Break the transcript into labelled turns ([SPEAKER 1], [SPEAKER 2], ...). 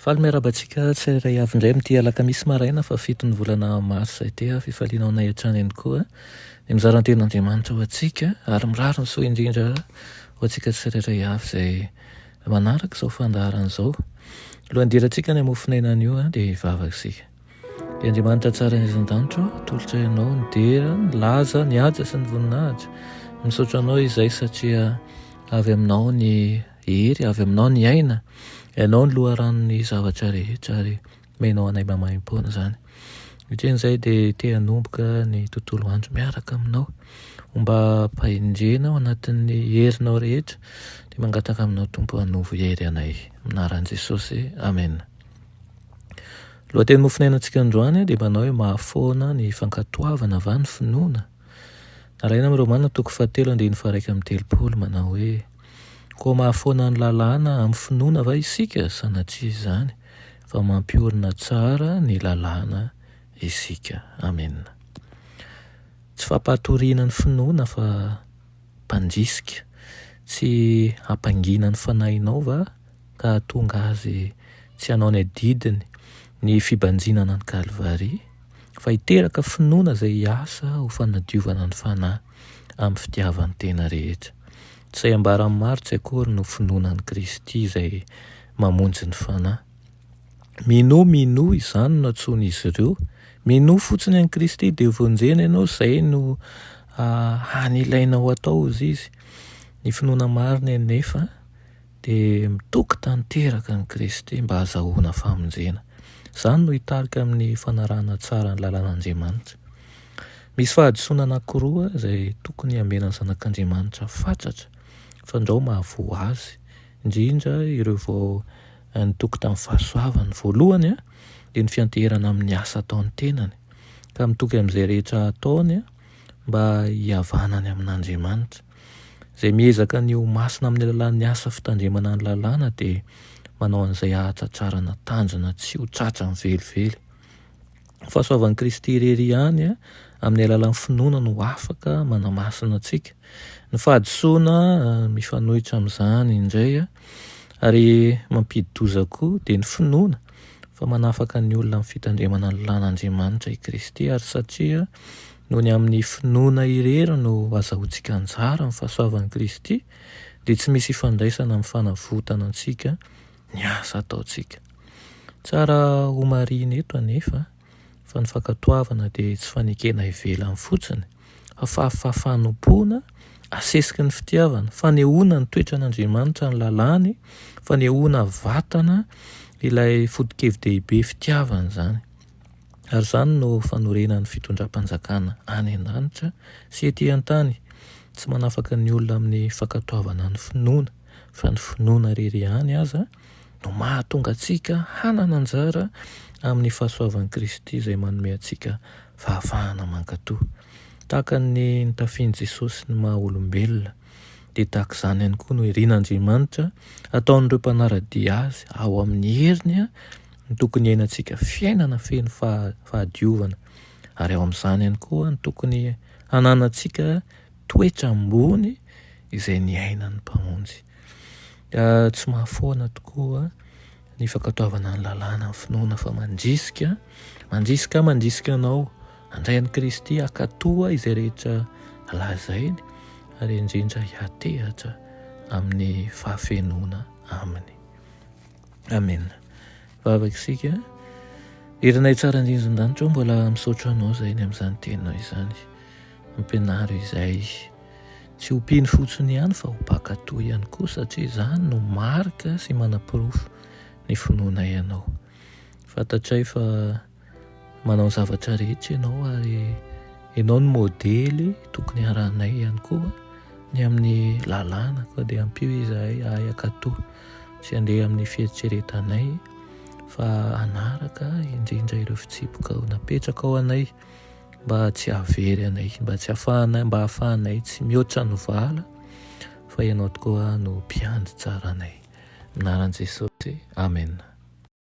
[SPEAKER 1] Faly miarahaba antsika tsirairay avy indray amin'ity alakamisy maraina fahafito ny volana marsa ity. Fifaliana ho anay hatrany ihany koa ny mizara ny tenin'Andriamanitra ho antsika ary mirary ny soa indrindra ho antsika tsirairay avy izay manaraka izao fandaharana izao. Alohan'ny hidirantsika ny hamofon'aina anio dia hivavaka isika. Dia Andriamanitra tsara ny izan-danitra, tolotra ianao ny dera, ny laza, ny haja sy ny voninahitra. Misaotra anao izay satria avy aminao ny Hery avy aminao ny aina, ianao ny loharanon'ny zavatra rehetra ary omenao anay maimaimpoana izany. Ohatrin'izay dia te hanomboka ny tontolo andro miaraka aminao. Homba ampahendrena ao anatin'ny herinao rehetra dia mangataka aminao Tompo hanovo hery anay. Amin'ny anaran'i Jesosy, amena. Lohateny nofonainantsika androany dia manao hoe mahafoana ny fankatoavana va ny finoana? Nalaina amin'i Romana toko fahatelo andininy faharaika amby telopolo manao hoe, Koa mahafoana ny lalàna amin'ny finoana va isika sanatria izany fa mampiorina tsara ny lalàna isika? Amena. Tsy fampahatoriana ny finoana fa mpandrisika. Tsy hampangiana ny fanahinao va? ka hahatonga azy tsy hanao ny adidiny ny fibanjinana an'i Kalvary, fa hiteraka finoana izay hiasa ho fanadiovana ny fanahy amin'ny fitiavan-tena rehetra. Tsy izay ambaran'ny maro tsy akory no finoana an'i Kristy izay mamonjy ny fanahy. Minoa, minoa izany no antsoin'izy ireo. Minoa fotsiny an'i Kristy dia vonjena ianao, izay no hany ilainao atao, hoy Izy. Ny finoana marina anefa, Dia mitoky tanteraka an'i Kristy mba hazahoana famonjena. Izany no hitarika amin'ny fanarahana tsara ny lalàn'Andriamanitra. Misy fahadisoana anankiroa izay tokony hamenan'ny zanak'Andriamanitra fatratra fa ndrao mahavoa azy, indrindra ireo vao nitoky tamin'ny fahasoavany. Ny voalohany dia ny fianteherana amin'ny asa ataon'ny tenany, ka mitoky amin'izay rehetra ataony mba hihavanany amin'Andriamanitra. Izay miezaka ny ho masina amin'ny alalan'ny asa fitandremana ny lalàna dia manao an'izay hahatratrarana tanjona tsy ho tratrany velively. Ny fahasoavan'i Kristy irery ihany eh, amin'ny alalan'ny finoana no afaka manamasina antsika. Ny fahadisoana eh, mifanohitra amin'izany indray eh, ary mampidi-doza koa dia ny finoana fa manafaka ny olona amin'ny fitandremana ny lalàn'Andriamanitra i Kristy ary satria Noho ny amin'ny finoana irery no azahoantsika anjara amin'ny fahasoavan'i Kristy, dia tsy misy ifandraisana amin'ny fanavotana antsika ny asa ataontsika. Tsara homarihina eto anefa fa ny fankatoavana dia tsy fanekena ivelany fotsiny, fa fafa fanompoana asesiky ny fitiavana, fanehoana ny toetran'Andriamanitra, ny lalàny, fanehoana vatana ilay foto-kevi-dehibe fitiavana izany. Ary izany no fanorenan'ny fitondram-panjakana any an-danitra sy ety an-tany, tsy manafaka ny olona amin'ny fankatoavana ny finoana, fa ny finoana irery ihany aza no mahatonga antsika hanana anjara amin'ny fahasoavan'i Kristy izay manome antsika fahafahana mankatò, tahaka ny nitafian'i Jesosy ny maha-olombelona. dia tahaka izany ihany koa no irin'Andriamanitra ataon'ireo mpanara-dia Azy ao amin'ny heriny ny tokony hiainantsika fiainana feno fahadiovana, ary ao amin'izany ihany koa ny tokony hananantsika toetra ambony izay niainan'ny Mpamonjy. Tsy mahafoana tokoa ny fankatoavana ny lalàna ny finoana fa mandrisika, mandrisika, mandrisika anao Handray an'i Kristy hankatoa izay rehetra lazainy ary indrindra hiatehatra amin'ny fahafenoana aminy. Amen. Vavaka isika. Irinay tsara indrindran-danitra mbola misaotra anao izay ny amin'izany teninao izany. Ampianaro izay tsy ho mpino fotsiny ihany fa ho mpankatò ihany koa satria izany no marika sy manaporofo ny finoanay ianao. Fantatray fa manao ny zavatra rehetra ianao ary ianao ny modely tokony harahanay ihany koa ny amin'ny lalàna koa dia ampio izahay ahay akato tsy handeha amin'ny fieritreretanay fa hanaraka indrindra ireo fitsipoka ho napetraka ao anay mba tsy hahavery anay mba tsy hahafahanay mba hahafahanay tsy mihoatra ny vala fa ianao tokoa no mpiandry tsaranay minaran'i Jesosy amena